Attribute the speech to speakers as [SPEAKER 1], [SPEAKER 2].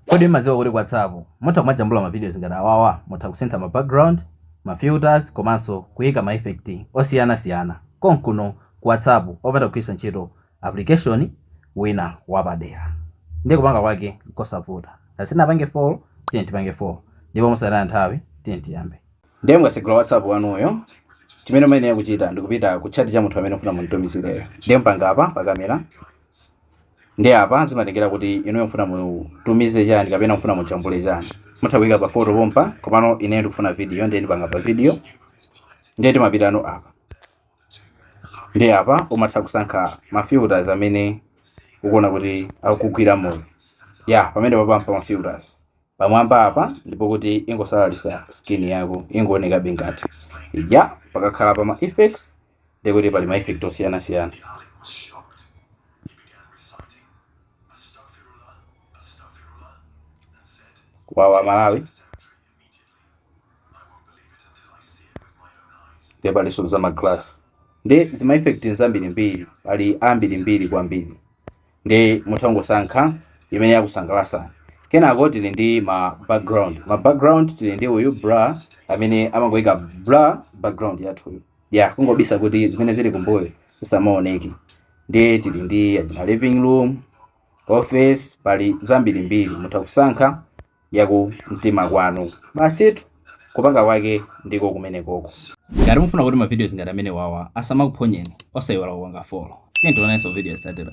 [SPEAKER 1] Kodi mmadziwa kuti ku WhatsApp mutha kumajambula ma videos ngati awawa? Mutha kusintha ma background, ma filters komanso kuika ma effect osiyana siyana konkuno ku WhatsApp osapanda kugwiritsa ntchito application wina wapadera. Ndiye kupanga kwake nkosavuta. Ngati sitinapange follow, tiyeni tipange follow. Ndipo mosataya nthawi, tiyeni tiyambe. Ndiye mukasegula WhatsApp wanuyo, chimene muyenera kuchita ndikupita ku chat cha munthu amene mufuna mumtumizireyo. Ndiye mupanga apa pa kamera. ndiye apa zimatengera kuti inuyo mfuna mutumize chani kapena mfuna mujambule chani mutha kuyika pa photo pompa komano ineyo ndikufuna video ndiye ndipanga pa video ndiye timapita apa ndiye apa umatha kusankha ma filters amene ukuona kuti akugwira moyo eya pamene papampa ma filters pamwamba apa ndipo kuti ingosalalisa skin yako ingoonekabe ngati ija pakakhala pa ma effects ndi kuti pali ma effect osiyana siyana awa a malawi nde palinso za ma glass ndi zima effect nzambirimbiri pali ambirimbiri kwambiri ndiye mutha kungosankha imene yakusangalatsani kenako tili ndi ma background ma background tili ndi uyu blur amene amangoika blur background yathuyo ya kungobisa kuti zimene zili kumbuyo zisamaoneke ndiye tili ndi achina living room office pali zambirimbiri mutha kusankha yaku mtima kwanu basitu kupanga kwake ndiko kumene koko ngati mufuna kuti ma videos ngati amene wawa asamakuphonyeni osayiwala kupanga follow tiye tionanso video yotsatira